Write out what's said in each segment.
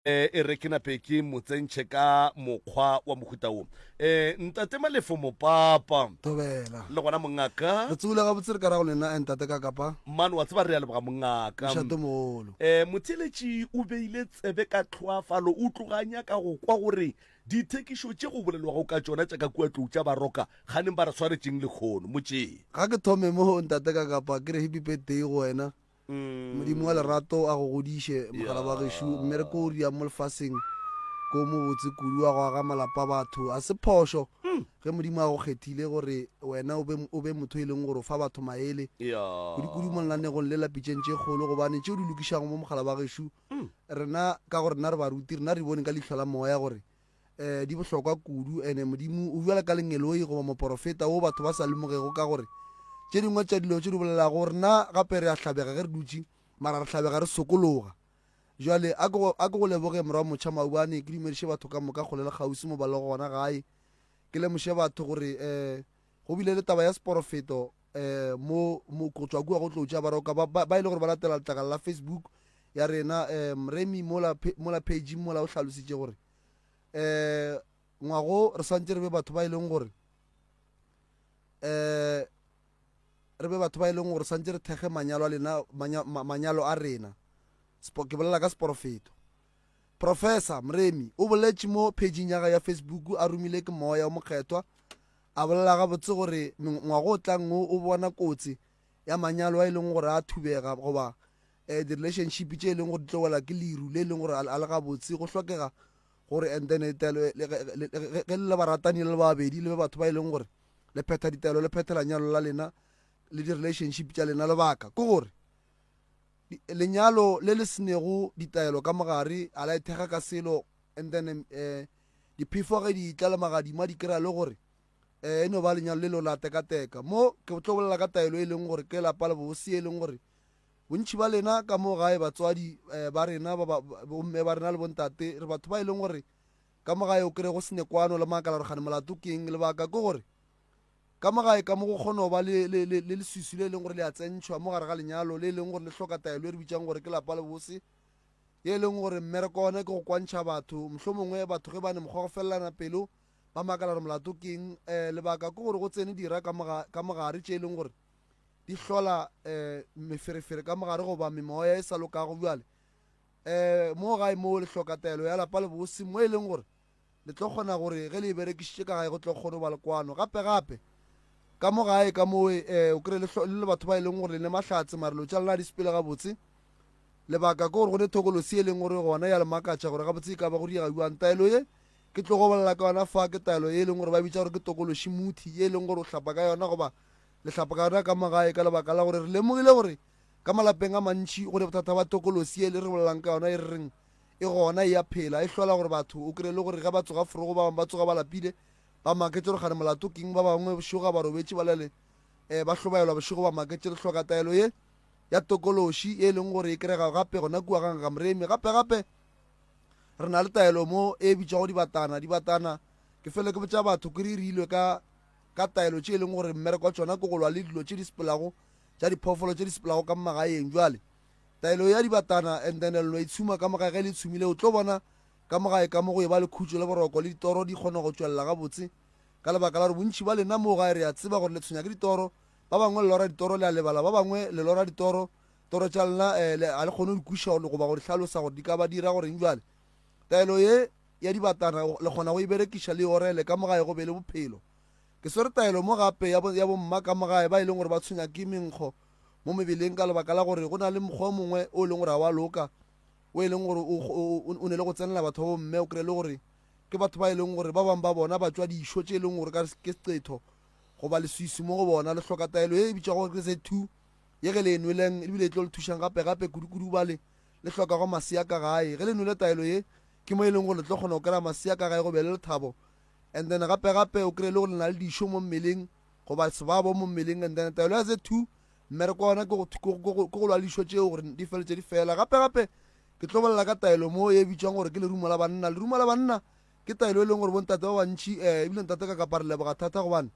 e re ke nape ke mo tsentšhe ka mokgwa wa mohuta wo e ntate malefo mopapa thobela le gona mongaka re tsogile ga botsere ka ra go lena entate ka kapa mane wa tseba re ya leboga mongaka mošate mogolo um motheletši o beile tsebe ka tlhoafalo o tloganya ka go kwa gore dithekišo tše go bolelwago ka tšona tša ka kuatlou tša baroka ganeng ba re swaretšeng lekgono motšeng ga ke thome mo ntate ka kapa ke re happy birthday go wena Modimo wa lerato a go godiše, mogala wa gešo. Mme re ko ria mo lefaseng ko o mobotse kudu wa go aga malapa a batho. Ga se phošo ge Modimo a go kgethile gore wena o be, o be motho e leng gore o fa batho maele, kudukudu mo lenanegong le la Pitšeng tše Kgolo, gobane tše o di lokišago mo, mogala wa gešo, rena, ka gore rena re baruti, rena re bone ka leihlo la Moya gore, e, di bohlokwa kudu. Ene Modimo o bjalo ka lengeloi goba moporofeta wo batho ba sa lemogego ka gore tše dingwe tša dilo tše di bolelago gore na gape re a hlabega ge re dutše, mara re hlabega re sokologa. Jwale a ke a ke go leboge Morwa Motšha Maubane, ke dumediše batho ka moka kgole le kgauswi mo ba lego gona gae, ke lemoše batho gore e, go bile le taba ya seporofeto um mo mo go tswa kua go tlo tša baroka ba, ba, ba e le gore ba latela letlakala la facebook ya rena um remi mola phe- mola page mola o hlalositše gore um ngwago re swantse re be batho ba e leng gore um re be batho ba e leng gore swantse re thekge manyalo a lena manya- ma- manyalo a rena Sepo- ke bolela ka seporofeto Professor Mremi o boletše mo phejing ya gae ya Facebook a romilwe ke Moya o Mokgethwa, a bolela gabotse gore ngwago o tlang o o bona kotsi ya manyalo a e leng gore a thubega goba eh, di-relationship tše e leng gore di tlo wela ke leru le e leng gore a le gabotse go hlokega gore and then ditaelo ge le baratani le babedi le be batho ba e leng gore le phetha ditaelo le phethela nyalo la lena le di-relationship tša lena lebaka ke gore Lenyalo le le se nego ditaelo ka mogare a la ithekga ka selo and then um diphefo ge di tla le magadima di kry-a le gore um e no ba lenyalo le lo la tekateka. Mo ke tlo bolela ka taelo e leng gore ke lapa le bobose e leng gore bontšhi ba lena ka mo gae batswadi um ba rena bomme ba rena le bontate re batho ba e leng gore ka mo gae o kry-e go sene kwano le makala gore gane molato ke eng lebaka ke gore Ka mo gae ka mo go kgona go ba le, le, le, le leswiswi le e leng gore le a tsentšhwa mo gare ga lenyalo, le e leng gore le hloka taelo e re bitšang gore ke lapa le bose, ye e leng gore mmereko wa ona ke go kwantšha batho. Mohlomongwe batho ge ba ne mokgwa go felelana pelo, ba makala gore molato ke eng. Um lebaka ke gore go tsene dira ka mo ga, ka mo gare tše e leng gore di hlola um meferefere ka mo gare goba memoya e sa lokago. Bjale um mo gae moo le hloka taelo ya lapa le bose, mo e leng gore Le tlo kgona gore ge le e berekišitše ka gae go tlo kgone go ba le kwano. Gape gape, ka mo gae ka mowe, eh, o kry le, le le batho ba e leng gore le ne mahlatse, mare lo tša lena di sepele gabotse. Lebaka ke gore go ne thokolosi e leng gore gona ya le makatša gore gabotse e ka ba go diega bjang. Taelo ye ke tlo go bolela ka yona fa ke taelo ye e leng gore ba bitša gore ke tokološi muthi, ye e leng gore o hlapa ka yona goba le hlapa ka yona ka mo gae ka lebaka la gore re lemogile gore ka malapeng a mantši go ne bothata ba tokolosi ye le re bolelang ka yona e re reng E gona e a phela, e hlola gore batho, o kry-e le gore ge ba tsoga forogo, ba bangwe ba tsoga ba lapile, ba maketše gore gane molato keng, ba bangwe bošego ga ba robetše ba lele, um ba hlobaelwa bošego ba maketše. Re hloka taelo ye ya tokološi e leng gore e kerega gape gona kua ga Ngaka Mremi. Gape gape re na le taelo mo e bitšwago dibatana. Dibatana ke fele ke botša batho ke re re ilwe ka ka taelo tše e leng gore mmereko wa tsona ke go lwa le dilo tše di sepelago tša diphoofolo tše di sepelago ka mmagaeng jwale Taelo ya dibatana and then leno itshuma ka mogae ge le itshumile o tlo bona ka mogae ka mo go eba le khutšo le boroko le ditoro di kgona go tšwelela gabotse ka lebaka la gore bontši ba lena moo gae re a tseba gore le tshwenya ke ditoro ba bangwe le lora ditoro le a lebala ba bangwe le lora ditoro toro tša lena eh, le a le kgone go di kuša gore goba go di hlalosa gore di ka ba dira goreng jale taelo ye ya dibatana le kgona go e berekiša le orele ka mogae go be le bophelo ke swere taelo mo gape ya bomma ka mogae ba e leng gore ba tshwenya ke menkgo mo mebeleng ka lebaka la gore go na le mokgwa o mongwe o e leng gore ga wa loka o e leng gore o ne le go tsenela batho ba bomme o kry-e le gore ke batho ba e leng gore ba bangwe ba bona ba tswa dišo tše e leng gore ke secetho goba leswisi mo go bona le hloka taelo e bitša gore ke se two ye ge le enweleng ebile e tlo le thušang gape gape kudu-kudu bale le hlokago masea ka gae ge le nwele taelo ye ke mo e leng gore le tlo kgona go kry-a masea ka gae go be le lethabo and then gape gape o kry-e le gore le na le dišo mo mmeleng goba sebabo mo mmeleng and then taelo ya ze two mmereko wa yona ke go lwa lišo tšeo gore di feletse di fela gape gape ke tlo bolela ka taelo mo e bitswang gore ke lerumo la banna lerumo la banna ke taelo e leng gore bontate ba bantšhi um eh, ebile ntate ka kapa re leboga thata gobane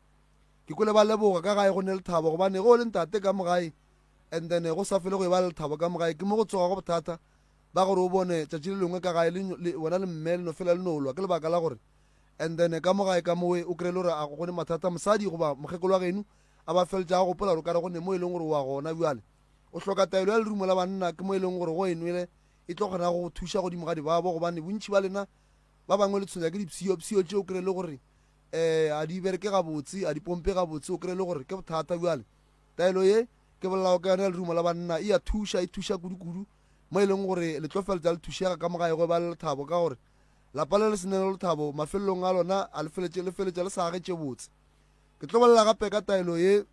ke kole ba leboga ka gae go ne le thabo gobane go le ntate ka mogae and then go sa fele go e ba le lethabo ka mogae ke mo go tsoga go bothata ba gore o bone tšatši le lengwe ka gae bona le mme le no fela le no lwa ke lebaka la gore And then ka mo gae ka mowe o kry-e le gore a go gone mathata mosadi goba mokgekolo wa genu a ba feltša a gopola gore o kare gone mo e leng gore o a gona bjale o hloka taelo ya lerumo la banna ke mo e leng gore go enwele e tlo kgona go go thuša godimo ga dibabo gobane bontši ba lena ba bangwe le tshwenya ke dipsiyopsiyo tše o kry-e le gore um a di bereke gabotse a di pompe gabotse o kry-e le gore ke bothata bjale taelo ye ke bolelago ka yone ya lerumo la banna e a thuša e thuša kudukudu mo e leng gore le tlo feltsa le thušega ka mogae go e ba le lethabo ka gore Lapa le le se nele lethabo mafelelong a lona a le feletše le feletša le sa agetše botse. Ke tlo bolela gape ka taelo ye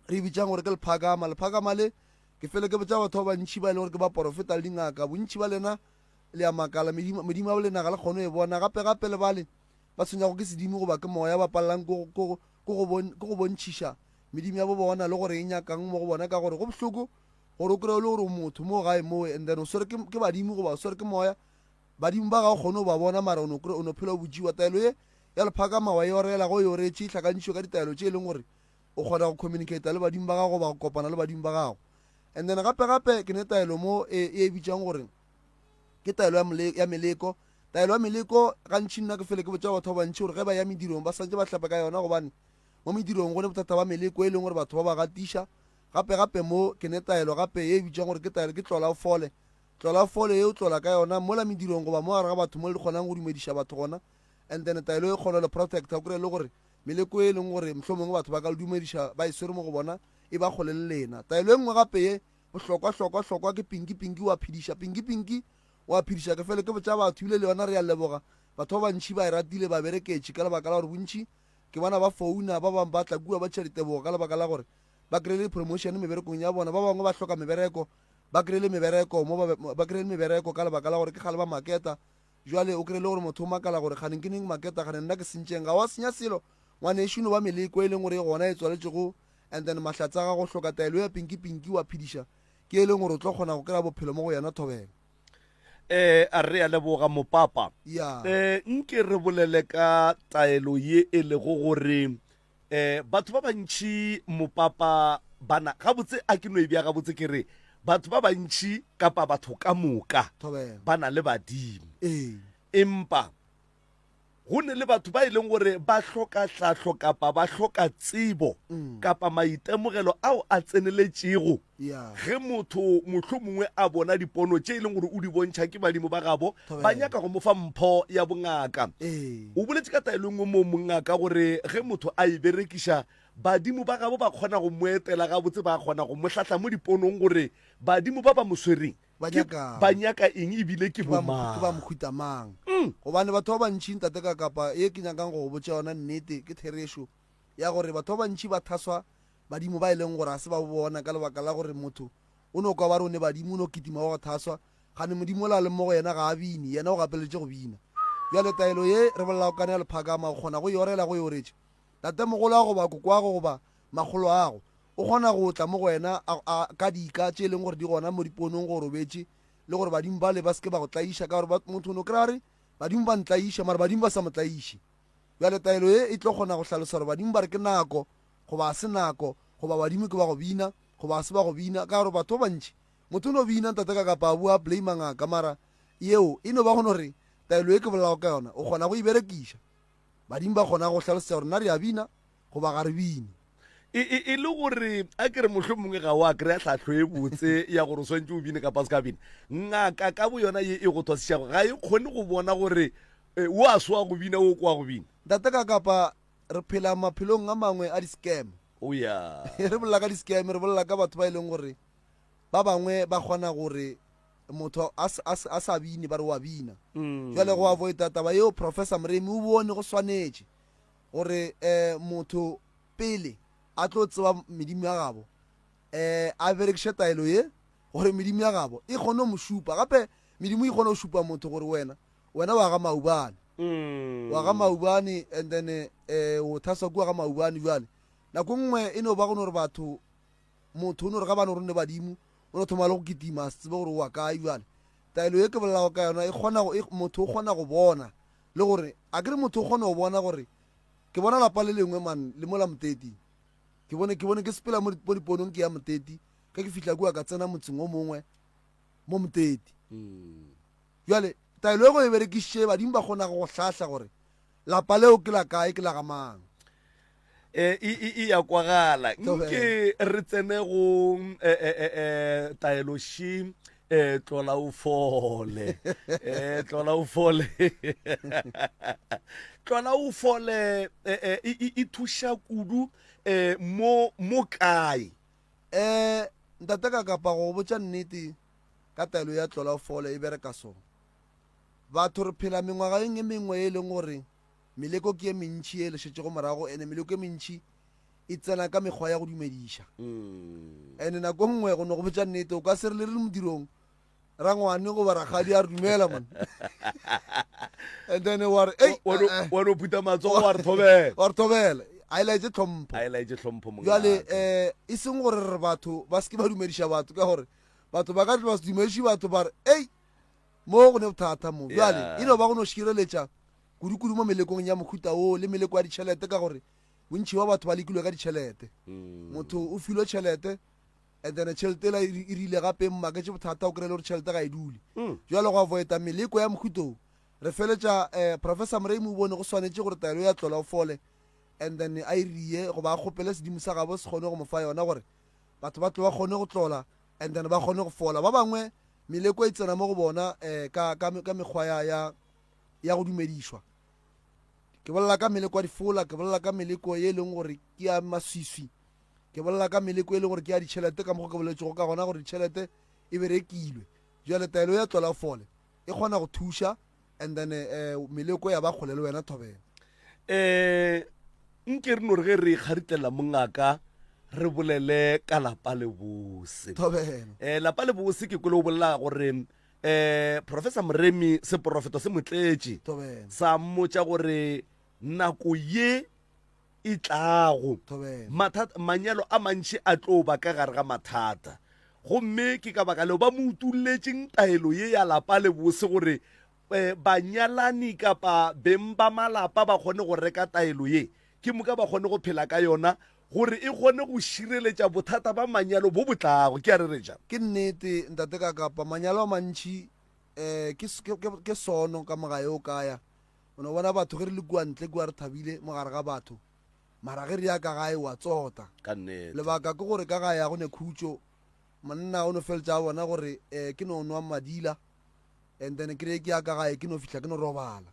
re e bitšang gore ke lephakama. Lephakama le ke fele ke botša batho ba bantši ba e le gore ke ba porofeta le dingaka. Bontši ba lena le ya makala, medimo, medimo ya bolena ga le kgone e bona. Gape gape le bale ba tshwenyago ke sedimo goba ke moya ba palelang ke go bontšhiša medimo ya bo bona le gore e nyakang mo go bona ka gore go bohloko gore o kry-e le gore o motho mo gae mowe and then o swere ke badimo goba o swere ke moya Badimo ba ga o kgone go ba bona, mara o no kry-a, o no phela o botšiwa. Taelo ye ya lephakamawa e orela, go e oretše, e hlakantšhwe ka ditaelo tše e leng gore o kgona go communicata le badimo ba gago goba go kopana le badimo ba gago. And then gape gape ke ne taelo mo e, e e bitšang gore ke taelo ya, mole, ya meleko. Taelo ya meleko gantši nna ke fele ke botša batho ba bantši gore ge ba ya medirong ba swantše ba hlape ka yona gobane mo medirong go ne bothata ba meleko e leng gore batho ba ba gatiša. Gape gape mo ke ne taelo gape ye e bitšang gore ke taelo ke tlola o fole. Tlola fole ye o tlola ka yona, mola medirong goba mo gare ga batho mo le kgonang go dumediša batho gona, and then taelo e kgolo le protect, o kry-e le gore meleko ye e leng gore mohlomongwe batho ba ka le dumediša ba e swere mo go bona e ba kgole le lena. Taelo e nngwe gape ye bohlokwa hlokwa hlokwa ke pinki pinki wa phediša pinki pinki wa phediša ke fele ke botša batho ebile le yona re ya leboga batho ba bantši ba e ratile ba bereketše ka lebaka la gore bontši ke bona ba founa ba bangwe ba tla kua ba tšha ditebogo ka lebaka la gore ba kry-ile promotion meberekong ya bona ba bangwe ba hloka mebereko ba kry le mebereko mo ba kry le mebereko ka lebaka la gore ke gale ba maketa jwale o kry le gore motho o makala gore kganeng ke neng maketa kgane nna ke sentšeng ga wa senya selo ngwane e šono ba meleko e leng gore e gona e tswaletšego and then mahlatsa ga go hloka taelo ya pinki pinki wa phediša ke e leng gore o tlo kgona go kry-a bophelo mo go yena thobela eh a re a leboga mopapa yeah. eh nke re bolele ka taelo ye e lego gore Eh, batho ba bantši mopapa bana, gabotse a ke no e bja gabotse ke re, batho ba bantši kapa batho ka moka Thobela. ba na le badimo. Ee. Empa go ne le batho ba e leng gore ba hloka tlhahlo kapa ba hloka tsebo kapa maitemogelo ao a tseneletšego Ge motho mohlomongwe a bona dipono tše e leng gore o di bontšha ke badimo ba gabo ba nyaka go mo fa mpho ya bongaka. O boletše ka taelo e nngwe moo mongaka gore ge motho a e berekiša, badimo ba gabo ba kgona go mo etela gabotse, ba kgona go mo hlahla mo diponong gore badimo ba ba mo swereng ba nyaka eng e bile ke bomang. Gobane batho ba bantši, Ntate Kakapa, ye ke nyakang go go botša yona nnete ke therešo ya gore batho ba bantši ba thaswa badimo ba e leng gore ga se ba bo bona ka lebaka la gore motho o no kwa ba rone badimo o no kitima wa go thaswa gane modimo o la leng mo go yena ga a bine yena o gapeletše go bina bjale taelo ye re bolela go kane ya lephakama o kgona go e orela go e oretše tatemogolo ago ba kokoago goba magolo ago o kgona go tla mo go wena ka dika tše e leng gore di gona mo diponong go robetše le gore badimo bale ba seke ba go tlaiša ka gore motho o ne o kry-a re badimo ba ntlaiša mara badimo ba sa mo tlaiše bjale taelo ye e tlo kgona go hlalosa gore badimo ba re ke nako goba ga se nako, goba badimo ke ba go bina, goba ga se ba go bina, ka gore batho ba bantši, motho o no bina ntate ka kapa a bua a blame ngaka, mara yeo e no ba go no re, taelo ye ke bolelago ka yona, o kgona go e berekiša. Badimo ba kgona go hlalosetša gore na re a bina goba ga re bine. E, e, e le gore a ke re mohlomongwe ga o a kry-a tlhahlo e botse ya gore o swantse o bine kapa o se ka bine. Ngaka ka bo yona ye e go thwasišago ga e kgone go bona gore e, o a swa go bina o kwa go bina. Ntate ka kapa Re phela maphelong a mangwe a di-scam. Oh yeah. Re bolela ka di-scam, re bolela ka batho ba e leng gore ba bangwe ba kgona gore motho a s- a s- a sa bine ba re wa bina Mm. jale go avoida taba yeo professor moremi o bone go swanetše gore um motho pele a tlo tseba medimo ya gabo um a berekiše taelo ye gore medimo ya gabo e kgone go mo šupa gape medimo e kgone go šupa motho gore wena Wena wa ga maubane mm. wa ga maubane and then eh, o thaswa kua ga maubane jale nako nngwe e no ba go no gore batho motho o no re ga ba no ronne badimo o no thoma le go kitima se tsebe gore wa kae jale taelo e ke bolelago ka yona e kgona e, motho o kgona go bona le gore a ke re motho o kgona go bona gore ke bona lapa le lengwe man le mo la moteti ke bone ke bone ke sepela mo diponong ke ya moteti ka ke fitlha kua ka tsena motseng o mongwe mo moteti mm. Bjale, taelo ye go e berekišitše badimo ba kgonago go hlahla gore lapa leo ke la kae, ke la ga mang. E, e, e, e a kwagala. Nke re tsene go e, e, e, e, taelo shi e tlola o fole e tlola o fole tlola o fole e, e, e, e, e thuša kudu e, mo mo kae Eh, ntate ka kapa go botša nnete. ka taelo ya tlolaofolo e bereka so, Batho re phela mengwagaeng e mengwe ye e leng gore meleko ke ye mentši ye e le šetšego morago, ene meleko ye mentši e tsena ka mekgwa ya go dumediša. Ene nako nngwe, go no go botša nnete, o ka se re le re le modirong, rangwane goba rakgadi a re dumela man and then wa re "Ei, Wa no- eh, eh." wa no phuta matsogo wa re thobela wa re thobela a e laetse tlhompho a e laetse tlhompho mongaka. jale um e seng gore re batho ba se ke ba dumediša batho ka gore Batho ba ka tloga se dumediše batho ba re, Ei, mo go ne bothata mo. Bjale, e no ba go no šireletša kudukudu mo melekong ya mohuta woo le meleko ya ditšhelete ka gore bontši ba batho ba lekilwe ka ditšhelete. Mm. Motho o filwe tšhelete and then tšhelete ela e e rile gape e mmaketše bothata o kry-e le gore tšhelete ga e dule. Mm. Bjale go avoida meleko ya mohutong re feletša um professor moremi o bone go swanetše gore taelo ya tlola o fole and then a irie e goba a kgopele sedimo sa gabo se kgone go mo fa yona gore Batho ba tle ba kgone go tlola and then ba kgone go fola. Ba bangwe meleko e tsena mo go bona um ka, ka, ka mekgwa ya, ya, ya go dumedišwa. Ke bolela ka meleko ya difola, ke bolela ka meleko e leng gore ke ya maswiswi, ke bolela ka meleko e leng gore ke ya ditšhelete ka mokgwa ke boletšego ka gona gore ditšhelete e be rekilwe. Jale taelo ya tlola o fole e kgona go thuša and then um meleko ya ba kgole le wena thobela um nke re no re ge re kgaritlelela mongaka re bolele ka lapa le bose thobela um lapa le bose ke kole o bolela gore um professor moremi seporofeto se motletše thobela sa mmotša gore nako ye e tlago. Mathata, manyalo a mantši a tlo ba ka gare ga mathata. Gomme ke ka baka leo ba mo utulletšeng taelo ye ya lapa le bose gore eh, banyalani kapa beng ba malapa ba kgone go reka taelo ye, ke moka ba kgone go phela ka yona gore e kgone go šireletša bothata ba manyalo bo bo tlago. Ke a re re ja. Ke nnete, Ntate Kakapa, manyalo a mantši eh, ke, ke, ke sono ka mogae o kaya. O no bona batho ge re le kua ntle kua re thabile mo gare ga batho, mara ge re ya ka gae wa tsota. Ka nnete. Lebaka ke gore ka gae a go ne khutšo. Monna o no feletša a bona gore eh ke no nwa madila and then ke re ke ya ka gae ke no fihla ke no robala.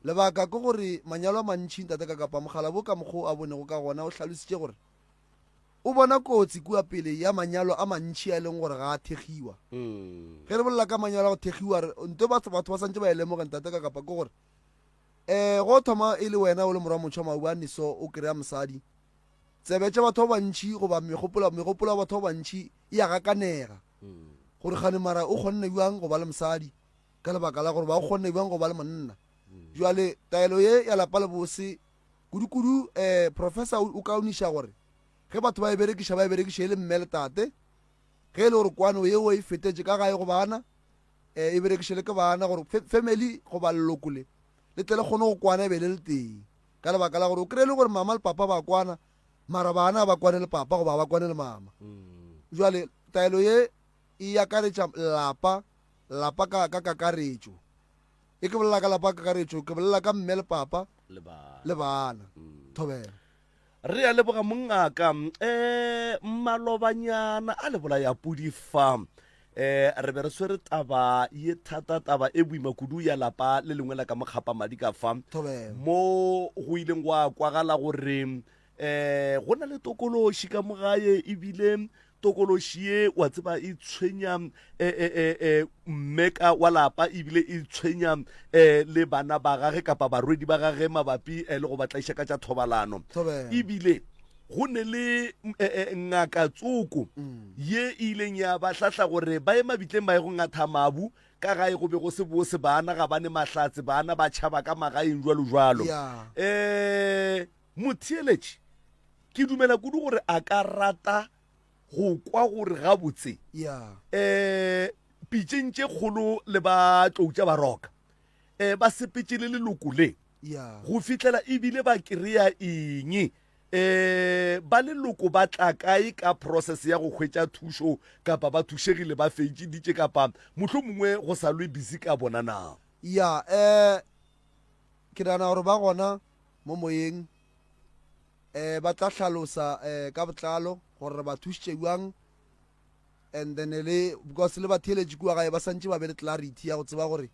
Lebaka ke gore manyalo a mantši ntate Kakapa, mokgalabo ka mokgo a bonego ka gona o hlalositše gore o bona kotsi kua pele ya manyalo a mantši a e leng gore ga a thegiwa mm. ge re bolela ka manyalo a go thegiwa re nto batho batho ba santse ba e lemoge ntate ka kapa ke gore um go thoma e le wena o le morwa motšha maubane so o kry-a mosadi tsebe tša batho ba bantšhi goba megopolo megopolo ya batho ba bantšhi e ya gakanega mm. gore gane mara o kgonne bjang go ba le mosadi ka lebaka la gore ba o kgonne bjang go ba le monna mm. jwale taelo ye ya lapa le bose Kudukudu Professor o kaoniša gore ge batho ba e berekiša ba e berekiše e le mme le tate, ge e le gore kwano yeo e fetetše ka gae go bana, e berekiše le ke bana gore family goba leloko le le tle le kgone go kwana e be le le tee. Ka lebaka la gore o kry-e le gore mama le papa ba kwana mara bana ba kwane le papa goba ba kwane le mama. Jwale taelo ye e akaretša lapa lapa ka kakaretšo e ke bolela ka lapa ka kakaretšo ke bolela ka mme le papa le bana mm. thobela re a leboga mongaka um eh, malobanyana a lebola ya pudi fa um re be re swere taba ye thata taba e boima kudu ya lapa le lengwe la ka mokgapa madi ka fa mo go ileng gwa kwagala gore um um go na le tokološi ka mogae ebile tokološi ye wa tseba e tshwenya um e, e, e, mmeka wa lapa ebile e tshwenya um le bana ba gage kapa barwedi ba gage mabapi um le go batlaiša ka tša thobalano ebile go ne le ngaka tsoko mm. ye e ileng ya ba hlahla gore ba ye mabitleng ba ye go ngatha mabu ka gae go be go se bose bana ga ba ne mahlatse bana ba tšhaba ka magaeng jalo jalo um Motheeletši, Ke dumela kudu gore a ka rata go kwa gore gabotse pitšeng tše kgolo le ba tloutša ba roka ba sepetše le leloko le go fihlela e bile ba kry-a eng. Ba leloko ba tla kae ka process ya go hwetša thušo kapa ba thušegile ba fetšiditše kapa mohlomongwe go sa lwe busy ka bona na? Ya, um ke nagana gore ba gona mo moyeng, ba tla hlalosa ka botlalo gore re ba thušitše bjang. And then le because le batheeletši kua gae ba santše ba be le clarity ya go tseba gore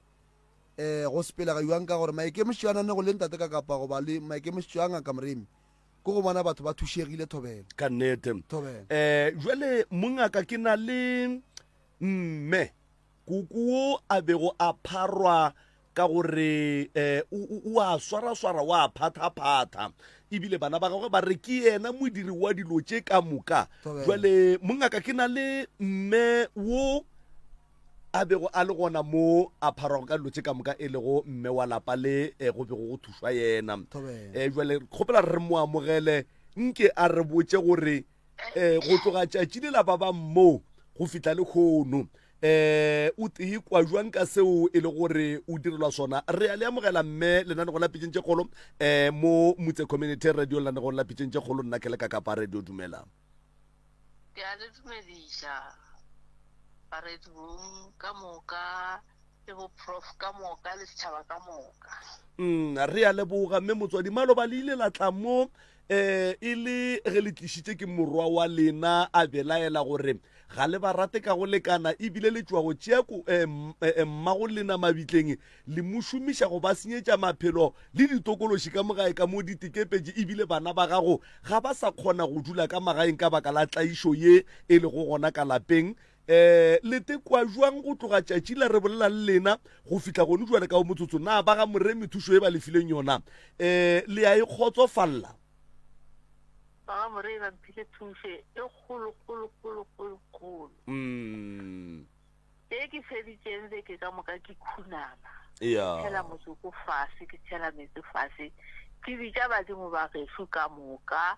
um go sepelega bjang ka gore maikemišetšo a nane go le ntate ka kapa goba le maikemišetšo a ngaka moremi ke go bona batho ba thušegile thobela ka nnete um jale mongaka ke na le mme Kuku wo a bego a pharwa ka gore um o a swaraswara, o a phathaphatha, e bile bana ba gagwe ba re ke yena modiri wa dilo tše ka moka. Jwale mongaka, ke na le mme wo a bego a le gona mo a pharwago ka dilo tše ka moka, e lego mme wa lapa le um go bego go thušwa yena. Um jwale kgopela re mo amogele, nke a re botše gore um go tloga tšatši le la ba ba mmoo go fihla le kgono um eh, o tee kwa jwang ka seo e le gore o direlwa sona re ya le amogela mme lenanegong la pitšeng tše kgolo um eh, mo motse community radio lenanegong la pitšeng tše kgolo nna ke le ka kapa radio dumela ke a le dumediša baredi bong ka moka le boprof ka moka le setšhaba ka moka mm re a leboga mme motswadi maloba le ile la tla mo um e le ge le tlišitše ke morwa wa lena a belaela gore ga le ba rate ka go lekana ebile le tšwa go tšea ko um mma go lena mabitleng le mo šomiša go ba senyetša maphelo le ditokološi ka mogae ka mo ditekepetše ebile bana ba gago ga ba sa kgona go dula ka magaeng ka baka la tlaišo ye e lego gona ka lapeng Ee, le te kwa jwang go tloga tšatši la re bolela le lena go fihla gone jwale ka o motsotso? Na ba ga Moremi thušo e ba lefileng yona ee le a e kgotsofalla? Ba ga Moremi ba mphile thušo e kgolo, kgolo, kgolo, kgolo, kgolo. Mm. E ke feditšeng beke ka moka ke khunama. Ea. Ke tšhela motsoko fase, ke tšhela metsi fase. Ke bitša badimo ba gešo ka moka.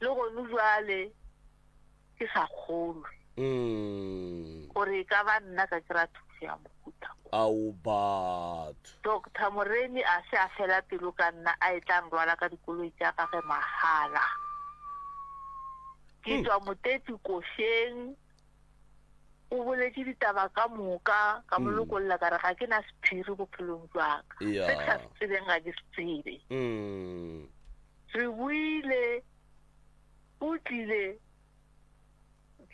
Le gonu bjale ke sa kgolwe Mm. gore e ka ba nna ka kry-a thuso ya mohuta o. Ao batho. Doctor Moremi a se a fela pelo ka nna a e tla nrwala ka dikoloi tša gage mahala. Ke tšwa Motepi košeng, o boletše ditaba ka moka, ka mo lokolla ka re ga ke na sephiri bophelong bja ka. Ea. Se ke sa se tsebeng ga ke se tsebe. Mm. Re buile, O tlile,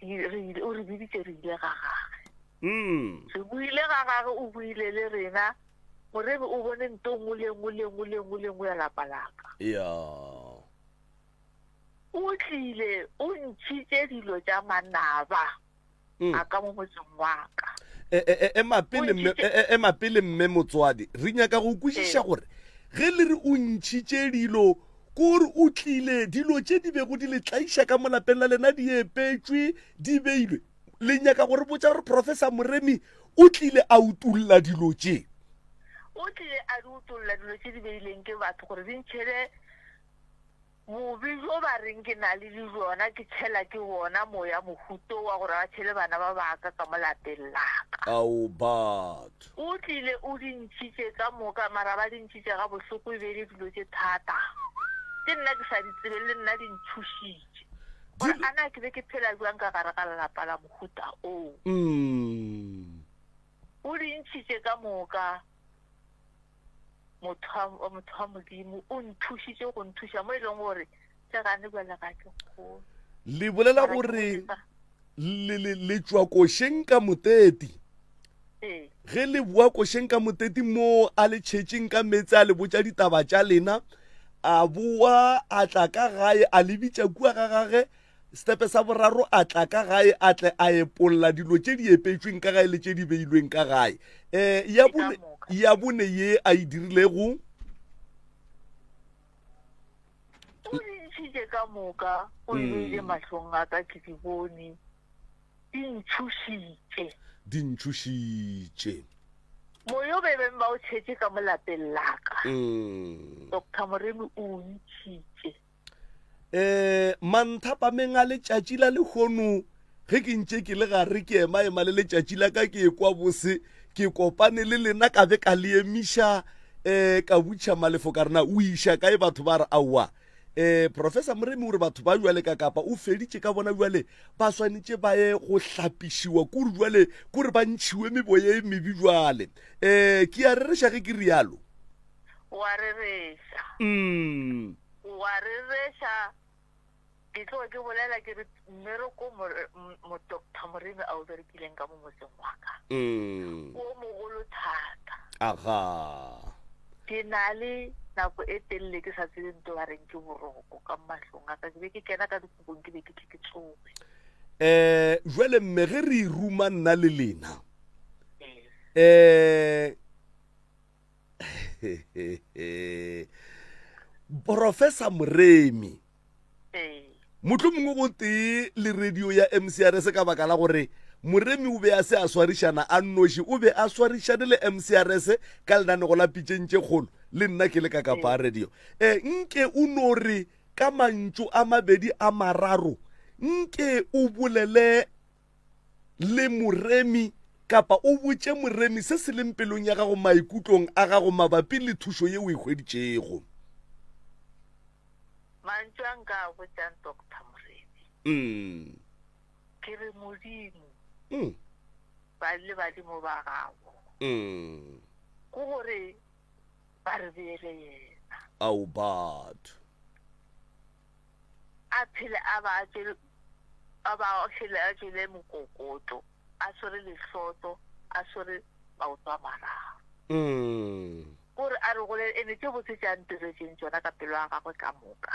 re ile, O re biditše re ile ga Gagwe. Re buile ga Gagwe, O buile le rena, Moreri, o bone nto nngwe le nngwe, le nngwe, le nngwe, le nngwe ya lapa laka. O tlile, O ntšhitše dilo tša manaba. mm. a ka mo motseng wa ka e, e, e, ema pele mme motswadi re nyaka go kwešiša gore ge le re o ntšhitše dilo kore o tlile dilo tše di bego di le tlaiša ka molapeng la lena di epetswe di beilwe le nyaka gore botša gore professor moremi o tlile a utulla dilo tše o tlile a di utulla dilo tše di beileng ke batho gore di ntšhele Bobe bjo ba reng ke na le le bjona ke tšhela ke bona moya mohuto wa gore ba tšhele bana ba baka ka mo lapeng la ka. Ao bat. O tlile o di ntšhitše ka moka mara ba di ntšhitše ga bohloko e be e le dilo tše thata tše nna ke sa di tsebeng le nna di ntšhošitše gore a na ke be ke phela bjang ka gare ga lelapa la mohuta oo. O di ntšhitše ka moka. motho wa motho wa modimo o nthušitše go nthuša mo e leng gore le gane bjale ga ke kgolo le bolela gore le tšwa košeng ka moteti ee. ge le boa košeng ka moteti moo a le tšhetšeng ka meetse a le botša ditaba tša lena a boa a tla ka gae a lebitša kua ga gage Setepe sa boraro a tla ka gae a tle a epolla dilo tše di epetšweng ka gae le tše di beilweng ka gae um ya bone ya bone ye a e dirilego o di ntšhitše ka moka o di beile mahlong a ka ke di bone di ntšhošitše di ntšhošitše moya o bebeng ba o tšhetše ka mo lapeng laka doctor moremi o o ntšhitše um manthapameng a letšatši la lehono ge ke ntše ke le gare ke emaema le letšatši la ka ke ekwa bose ke kopane le lena ka be ka le emiša um ka butšha malefo ka rena o iša kae batho ba re aowa um eh, professor moremi o re batho ba jwale ka kapa o feditše ka bona jwale ba swanetše ba ye go hlapišiwa kore jwale kore ba ntšhiwe meboye e mebe jwale um ke a rereša ge ke rialo o a rereša. Mm. O a rereša. Ke tlo ke bolela ke re mmereko mo doctor moremi a o berekileng ka mo motseng wa ka mm. o mogolo thata aga ke na le nako e telele ke sa tsebe nto ba reng ke boroko ka mahlong a ka ke be ke kena ka dikopong ke be ke tle ke tsoe eh jwale mme ge re ruma nna le lena eh professor moremi motho mongwe go tee le radio ya mcr se ka baka la gore moremi o be a se a swarišana a nnoši o be a swarišane le mcrs ka lenanego la pitšeng tše kgolo le nna ke le ka kapa radio e nke o no re ka mantšu a mabedi a mararo nke o bolele le moremi kapa o botše moremi se se leng pelong ya gago maikutlong a gago mabapi le thušo ye o e hweditšego. Mantšu a nka a botšang Doctor Moremi. Mm. Ke re, Modimo, Mm. ba le badimo ba gago, Mm. ke gore ba re beele yena. Ao batho. a phele a ba a tšere, a ba a šele a tšele mokokoto, a swere lehloto, a swere maoto a mararo. Ko re a re gole, ene tše botse tše a ntiretseng tšona ka pelo ya gagwe ka moka,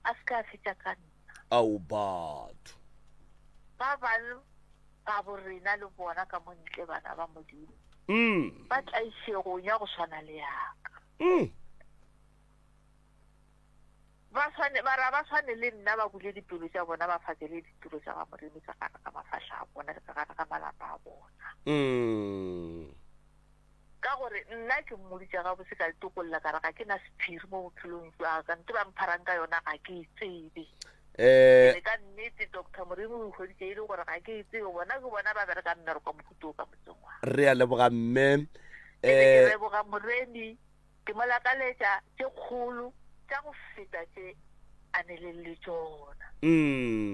a se ka a fetša ka nna. Ao batho! Ba bang ba bo rena le bona ka mo ntle, bana ba Modimo, ba tlaišegong ya go swana le ya ka. ba swane ba ra ba swane le nna ba bule dipelo tša bona ba fakele ditiro tša ga modimo tsa gare ga mafahla a bona le ka gare ga malapa a bona mm. ka gore nna ke mmodi tša gabotse ka letokolla ka re ga ke na sephiri mo bophelong jwa ka nte ba mpharang ka yona ga ke e tsebe eh. ka nnete doctor morimo o ikgoditse e le gore ga ke e tsebe bona ke bona ba bereka mmereko mohuto o ka motseng wa re a leboga mme eh. ke leboga moremi Ke mo lakaletša tše kgolo tša go feta tše a nileng le tšona,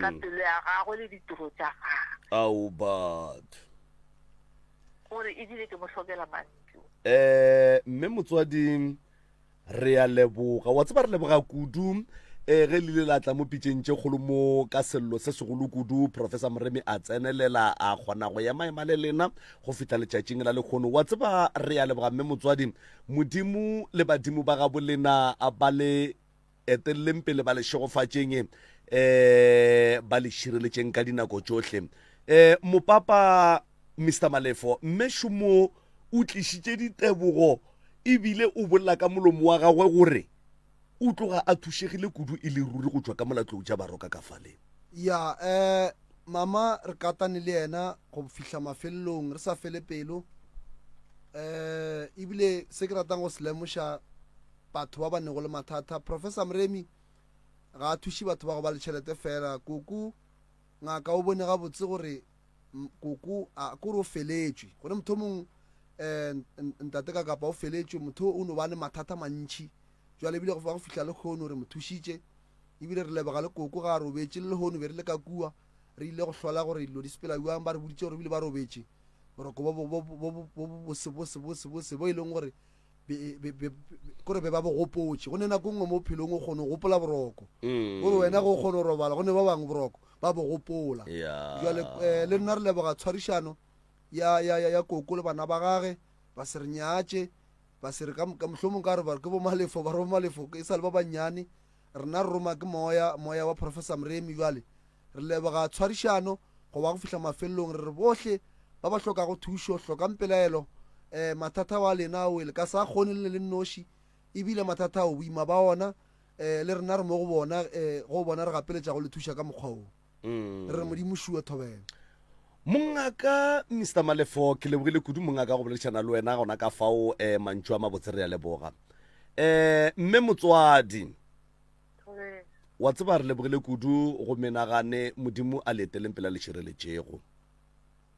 ka pelo ya gagwe le ditiro tša gagwe. Ao, Bud! O re, Ebile ke mo hlokela mantšu. Ee, mme motswadi, re a leboga. Wa tseba, re leboga kudu eh, ge le ile la tla mo pitšeng tše kgolo mo ka sello se segolo kudu. Professor Moremi a tsenelela, a kgona go emaema le lena go fihla letšatšing la lekgono. Wa tseba, re a leboga, mme motswadi. Modimo le badimo ba gabo lena ba le eteleleng pele, ba le šegofatšeng, um ba le šireletšeng ka dinako tšohle. Um Mopapa Mister Malefo, Mme Shumo o tlišitše ditebogo e bile o bolela ka molomo wa gagwe gore O tloga a thušegile kudu e le ruri go tšwa ka mola tlou tša baroka ka fale. Ya, eh, Mama, re katane le yena go fihla mafelelong, re sa fele pelo. Eh, ebile se ke ratang go se lemoša batho ba ba nego le mathata, Professor Mremi ga a thuše batho ba go ba le tšhelete fela, Koko Ngaka o bone gabotse gore Koko a kore o feletšwe, gona mothomong eh, Ntate Kakapa o feletšwe, motho o no ba le mathata mantši. Jwale ebile go fa go fihla lehono re mo thušitše, ebile re leboga le Koko ga a robetše, le lehono be re le ka kua re ile go hlola gore dilo di sepela bjang, ba re boditše gore ebile ba robetše boroko bo bosebosebosebose bo e leng gore kore be ba bo gopotše go ne nako nngwe mo phelong o kgone go gopola boroko mm. gore wena go o kgone go robala go ne ba bangwe boroko ba bo gopola jale um eh, le nna re leboga tshwarišano ya, ya, ya, ya koko le bana ba gage ba se re nyatše ba se re ka mohlomong ka re ba ke bomalefo ba re bomalefo e sa le ba bannyane Rena re roma ke Moya, Moya wa Professor Mremi. Bjale, re leboga tshwarišano, go ba go fihla mafelelong. Re re bohle ba ba hlokago thušo, hlokang pelaelo, eh, mathata wa lena o le ka sa kgone le le le nnoši, ebile mathata ao, boima ba ona, eh, le rena re mo go bona, eh, go bona re gapeletša go le thuša ka mokgwa woo. re re modimo šuo thobela mongaka mr malefo ke lebogile kudu mongaka go boledišana le wena gona ka fao um mantšu a mabotse re ya leboga um mme motswadi wa tseba re lebogile kudu go menagane modimo a le eteleng pela le šireletšego